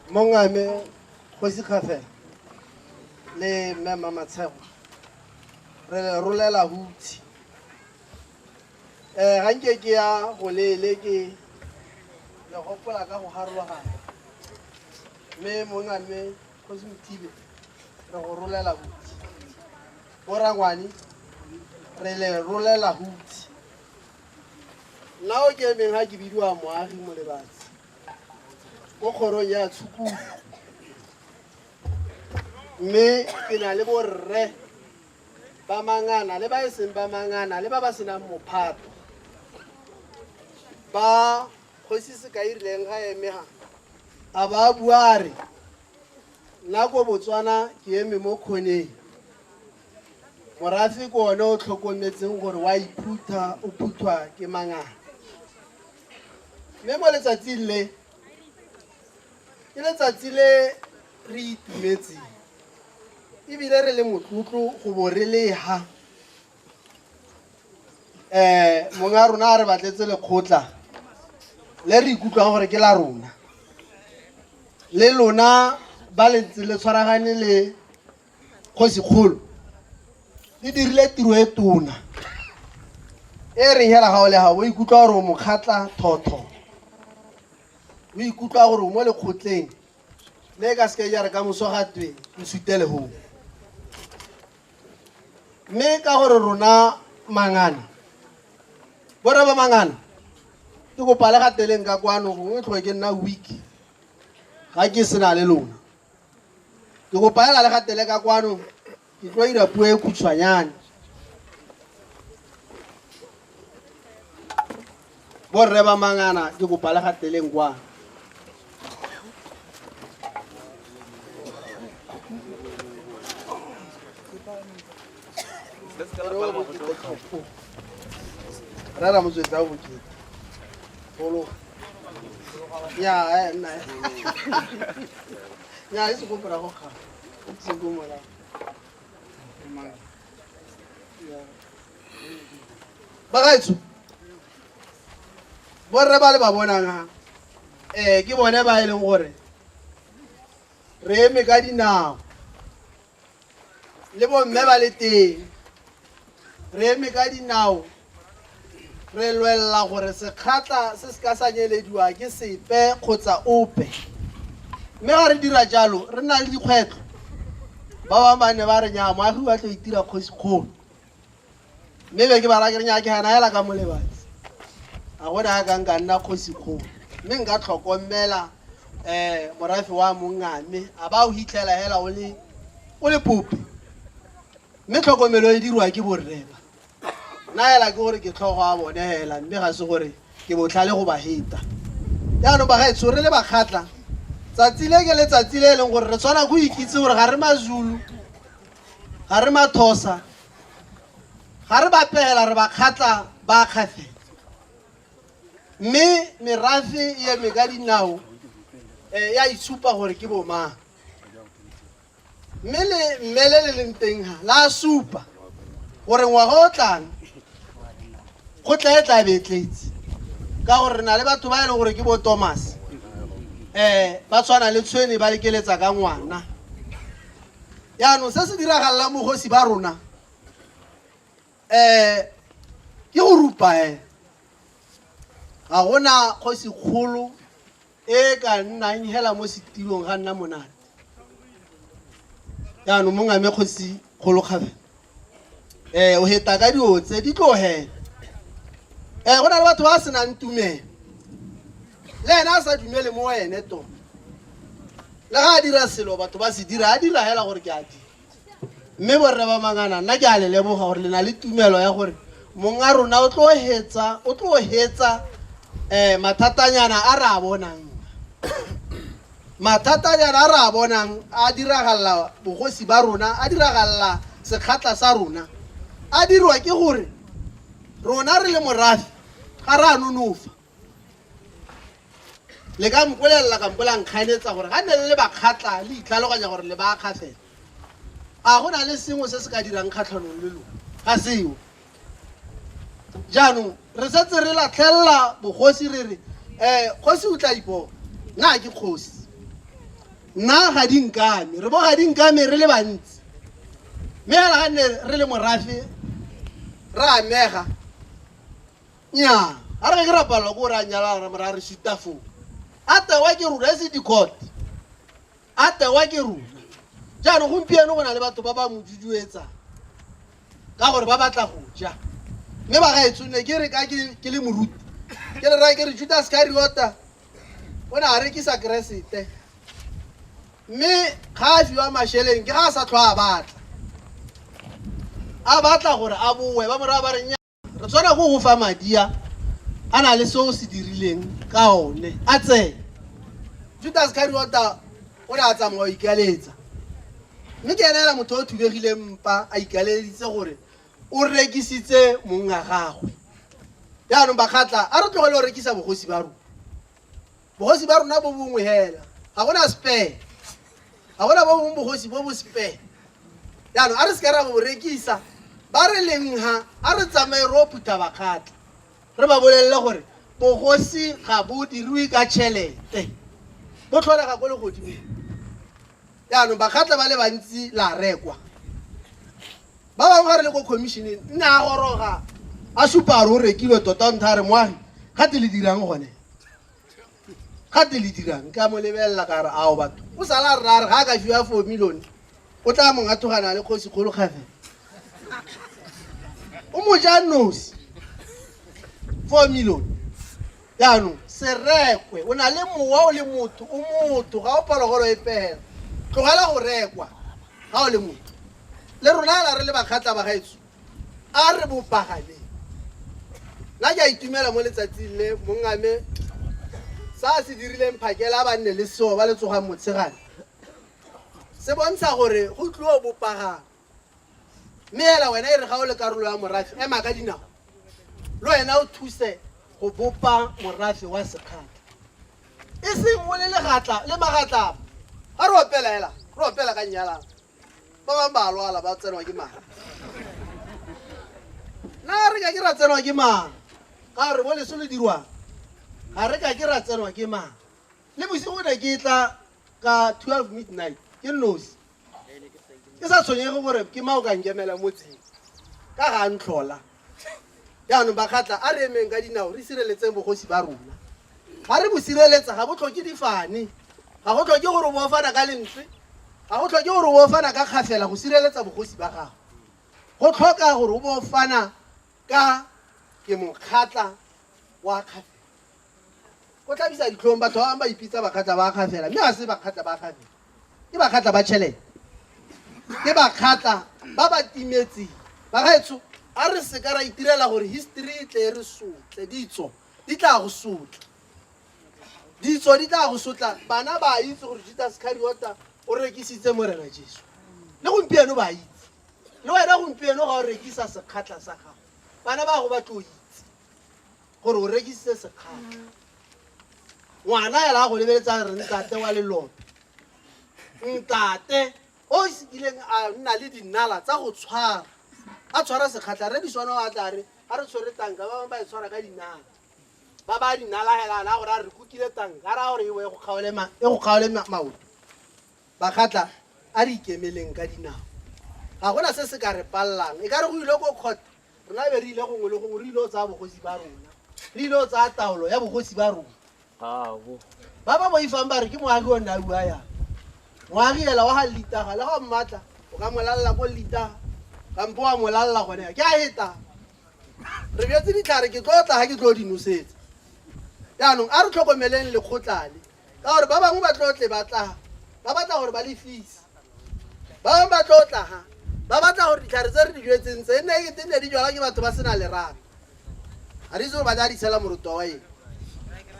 mongame kgosi gafe le mme mamatshego re le rolela hutshe um eh, ga nke ke ya go leele ke le gopola ka go garologana mme mongame kgosi mothibe re go rolela hutshe borangwane re le rolela hutshe Nna o ke emeng ga ke bidiwa moagi mo lebatsi ko kgorong ya tshukudu mme ke na le borre ba mangana le ba e seng ba mangana le ba ba senang mophato ba kgosi se ka irileng ga emega a ba buare nna ko botswana ke eme mo kgoneng Morafe ke one o tlhokometseng gore wa iphutha o phuthwa ke mangaka. Mme mo letsatsing le ke letsatsi le re itumetseng ebile re le motlotlo go bo re leha um monga rona a re batletse lekgotla le re ikutlwang gore ke la rona le lona ba le ntse le tshwaragane le kgosikgolo e dirile tiro e tona e reng hela ga o le ga o ikutlwa gore o mokgatla thotho o ikutlwa gore o mo lekgotleng le ka seke jare ka moso ga twe o sutele go mme ka gore rona mangana borre ba mangana ke kopa le gateleng ka kwano gongwe tlhoe ke nna week ga ke sena le lona Ke go palela le ga teleka kwano ke tlo ira puo e khutshwanyane. Borre ba mangana ke go pale ga teleng kwano. rera motswetsi a bokete golo ya eh, nna ya e sekopora go kga sekomola bagaetsho borre ba le ba bonang ha um ke bone ba e leng gore re eme ka dinao le bomme ba le teng re eme ka dinao re lwelela gore sekgatla se se ka sa nyelediwa ke sepe kgotsa ope mme ga re dira jalo re na le dikgwetlho ba bangwe ba ne ba re nyaa moagi wa tlo itira kgosikgolo Mme be ke bala ke renya ke gana hela ka molebatsi a gone a ka nka nna kgosikgolo mme nka tlhokomela um morafe wa mongame a ba o hitlhela hela o le o le pope mme tlhokomelo e dirwa ke borreba nna hela ke gore ke tlhogo a bone hela mme ga se gore ke botlhale go ba heta jaanong bagaetsho re le bakgatla tsatsi le ke letsatsi le e leng gore re tshwana go ikitse gore ga re mazulu ga re mathosa ga re ba pegela re ba kgatla ba kgafetsa mme merafe e eme ka dinao um ya itshupa gore ke bomang mme le mme le le leng teng ga la supa gore ngwaga o tlang go tla e tla be e tletse ka gore re na le batho ba e leng gore ke bo thomas um ba tshwana le tshwene ba lekeletsa ka ngwana Jaanong se se diragalelang bogosi ba rona um ke go rupa e ga gona kgosi kgolo e ka nnang hela mo setilong ga nna monate jaanong mongame kgosi kgolo kgafela ee o heta ka dilo tse di tlogele ee go na le batho ba senang tumelo le ene a sa dumele mo ene to le ga a dira selo batho ba se dira a dira hela gore ke a dira mme borre ba mangana nna ke a le leboga gore le na le tumelo ya gore mong a rona o tlo hetsa o tlo hetsa um mathatanyana a re a bonang Mathatanyana a re a bonang a diragalela bogosi ba rona, a diragalela sekgatla sa rona, a dirwa ke gore rona re le morafe ga re a nonofa. Le ka mpolelela kampo la nkgaeletsa gore ga nne le le bakgatla le itlhaloganya gore le baakga fela, a go na le sengwe se se ka dirang kgatlhanong le lona? Ga seo. jaanong re setse re latlhelela bogosi re re um kgosi o tla ipo nna ke kgosi nna ga di nkame re bo ga di nkame re le bantsi mme fela ga nne re le morafe re amega nya ga re ke ra palelwa ko re a nyala ra mora re sitafo a tewa ke rura e se dikot A tewa ke rona. Jaanong gompieno go na le batho ba ba mo duduetsang ka gore ba batla go ja. Mme bagaetsho ne ke re ka ke ke le moruti, ke le raya ke re Judas Iskariota o ne a rekisa Keresete. Mme ga a fiwa masheleng ke ga a sa tlhwa a batla. A batla gore a boe ba morago ba re nya. re tshwana go go fa madi a a na le se o se dirileng ka one a tseye judas kariota o ne a tsamaya o ikaletsa mme ke ene ela motho o thubegileng mpa a ikaleditse gore o rekisitse mong a gagwe jaanong bakgatla a re tlogele o rekisa bogosi ba rona Bogosi ba rona bo bongwe hela, ga gona spare, ga gona bo bongwe bogosi bo bo spare. Jaanong a re seka ra bo rekisa, ba re leng ha a re tsamaye ro phutha bakgatla, re ba bolelele gore bogosi ga bo diriwe ka tšhelete, bo tlholega ko legodimong. Jaanong bakgatla ba le bantsi la rekwa, ba bangwe ga re le ko commissioneng nne a goroga a supa a re o rekilwe tota o ntha a re moagi gate le dirang gone gate le dirang ka mo lebelela ka re ao batho o sala rra re ga a ka fiwa four million o tla mong a thogana le kgosi kgolo kgafe o mo ja nosi four million jaanong serekwe o na le mowa o le motho o motho ga o phologolo e pela tlogela go rekwa ga o le motho le rona la re le bakgatla ba gaetso A re bopagameng. Nna ke a itumela mo letsatsing le mongame sa a se dirileng phakela a ba nne le seo ba le tsogang motshegane se bontsha gore go tliwa bopagame. Mme hela wena e re ga o le karolo ya morafe, ema ka dinao le wena o thuse go bopa morafe wa sekgatla. E seng o le legatla le magatlapa. Ga re opela hela, re opela ka nnyalana. ba bangwe ba lwala ba tsenwa ke mala na re ka ke ra tsenwa ke mala ka gore mo leso le dirwang ga re ka ke ra tsenwa ke mala le bosigo ne ke tla ka 12 midnight ke nosi ke sa tshwenyege gore ke mao ka nkemela mo tsheng ka ga ntlhola Jaanong bakgatla, a re emeng ka dinao re sireletseng bogosi ba rona. Ga re bo sireletsa ga bo tlhoke difane, ga go tlhoke gore bo ofana ka lentswe, ga go tlhoke gore bo ofana ka kgafela go sireletsa bogosi ba gago. Go tlhoka gore o bo ofana ka ke mokgatla wa kgafela. Go tlhabisa ditlhong batho ba bangwe ba ipitsa bakgatla ba kgafela mme ga se bakgatla ba kgafela. ke bakgatla ba tšhelete ke bakgatla ba ba timetseng bagaetsho a re se ka ra itirela gore history e tle e re sotle ditso di tla go sotla ditso di tla go sotla bana ba itse gore judas cariota o rekisitse morena jesu le gompieno ba itse le wena gompieno ga o rekisa sekgatlha sa gago bana ba go ba tlo itse gore o rekisitse sekgatlha ngwana ela a go lebeletsa re ntate wa lelope ntate o se kileng a nna le dinala tsa go tshwara a tshwara sekgatlha re diswana o a tla re ga re tshwere tanka ba bangwe ba e tshwara ka dinala ba ba dinala hela na gore a re kukile tanka a ra gore e go kgaole maoto Bakgatla, a re ikemeleng ka dinao. Ga go na se se ka re palelang. E ka re go ile ko court, rona be re ile gongwe le gongwe, re ile go tsaya bogosi ba rona. Re ile go tsaya taolo ya bogosi ba rona. Gaabo. Ba ba boifang ba re ke moagi o nne a bua yang. Moagi hela wa ga Llitaga, le ga o mmatla, o ka mo lalela ko Llitaga, kampo wa mo lalela gone ya. Ke a hetang. Re bjetse ditlhare, ke tlo tla ga ke tlo di nosetsa. Jaanong, a re tlhokomeleng lekgotla le. ka gore ba bangwe ba tlo tle ba tla ba batla gore ba lefise ba bangwe ba tlo tla ga ba batla gore ditlhare tse re di jetseng tse nne e tenne di jwala ke batho ba sena lerato ga di itse gore ba tla di tshela moroto wa eng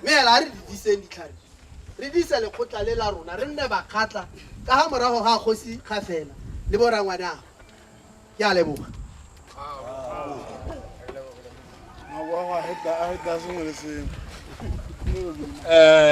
mme ela ga re di diseng ditlhare re dise lekgotla le la rona re nne bakgatla ka ga morago ga kgosi ga fela le borangwane ago ke a leboga Mawawa, I hate that. I hate that song. Listen. Eh,